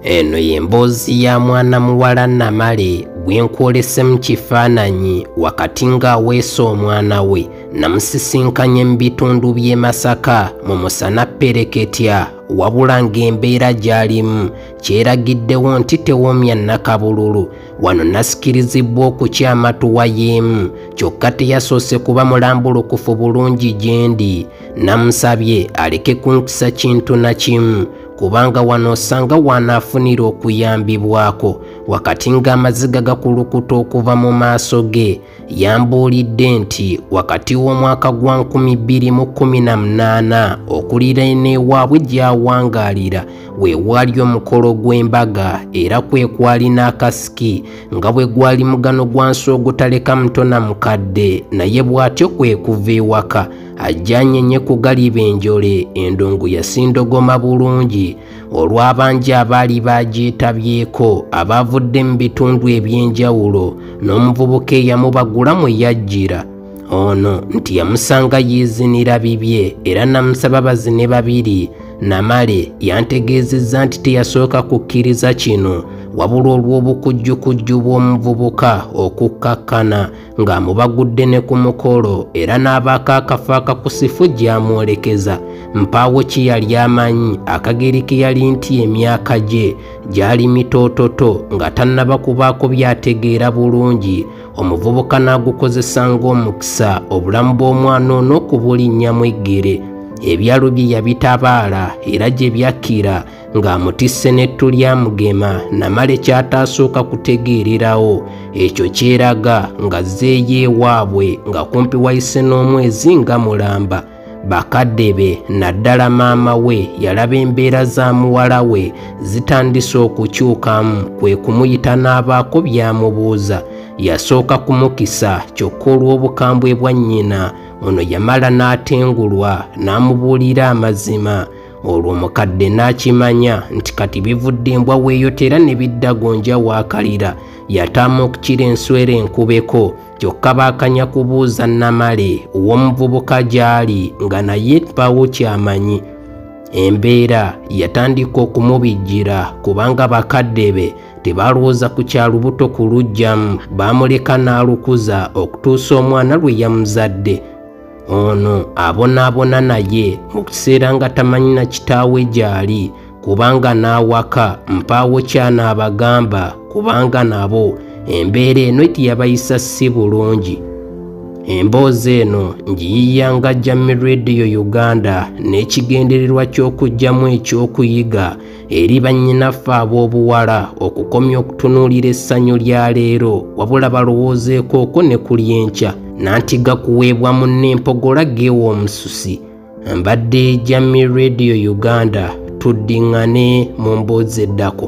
eno y'emboozi ya mwana muwala namale gwe nkwolese mu kifaananyi wakati ng'aweesa omwana we namusisinkanye mu bitundu by'e masaka mu musana pereketya wabula ng'embeera gy'alimu kyeragiddewo nti tewomya nakabululu wano nasikirizibbwa okukyamatuwa y'emu kyokka teyasoose kuba mulambulukufu bulungi gyendi Namusabye aleke kunkisa kintu na kimu kubanga wano osanga wanaafunira okuyambibwako wakati ng'amaziga gakulukuta okuva mu maaso ge yambuulidde nti wakati w'omwaka gwa 2018 okulira eneewaabwe gy'awangaalira we waali omukolo gw'embaga era kwe kwali n'akasiki nga bwe gwali mugano gwa nsi ogutaleka mutona mukadde naye bw'atyo kwe kuva ewaka ajjanye nye kugaliba enjole endongo yasindogoma bulungi olw'abangi abaali baagyetabyeeko abaavudde mu bitundu eby'enjawulo n'omuvubuka eyamubagula mwe yajjira ono nti yamusanga yiizinira bibye era namusaba bazine babiri namale yantegeezezza nti teyasooka kukkiriza kino wabula olw'obukujjukujju bw'omuvubuka okukkakkana ng'amubagudde ne ku mukolo era n'abaako akafo akakusifu gy'amwolekeza mpaawo ki yali amanyi akageri ke yali nti emyaka gye gyali mitoototo nga tannaba kubaako byategeera bulungi omuvubuka n'agukozesa ng'omukisa obulamu bw'omwana ono okubulinnyamu eggere ebyalo bye yabitabaala era gye byakkira ng'amutisse n'ettu lya mugema namale kyataasooka kutegeererawo ekyo kyeraga nga zeeyo ewaabwe nga kumpi wayise n'omwezi nga mulamba bakadde be naddala maama we yalaba embeera za muwala we zitandise okukyukamu kwe kumuyita n'abaako byamubuuza yasooka kumukisa kyokka olw'obukambwe bwa nnyina ono yamala n'atengulwa n'amubuulira amazima olwo omukadde n'akimanya nti kati bivudde embwa weeyotera ne bidda gonja waakalira yataama okukira enswera enkubeko kyokka baakanya kubuuza namale ow'omuvubuka gy'ali nga naye baawo kyamanyi embeera yatandika okumubijjira kubanga bakadde be tebaalowooza ku kya lubuto ku lujjamu baamuleka n'alukuza okutuusa omwana lwe yamuzadde ono abonaabona naye mu kiseera nga tamanyi na kitaawe gy'ali kubanga n'awaka mpaawo kyanaabagamba kubanga nabo embeera eno etiyabayisa si bulungi emboozi eno ngiyiya nga jammi radio uganda n'ekigendererwa ky'okuggyamu ekyokuyiga eri bannyinaffe ab'obuwala okukomya okutunuulira essanyu lya leero wabula balowoozeeko oko ne ku lyenkya nanti gakuweebwa mu n'empogola geewa omususi mbadde jami radio uganda tuddingane mu mboozi eddako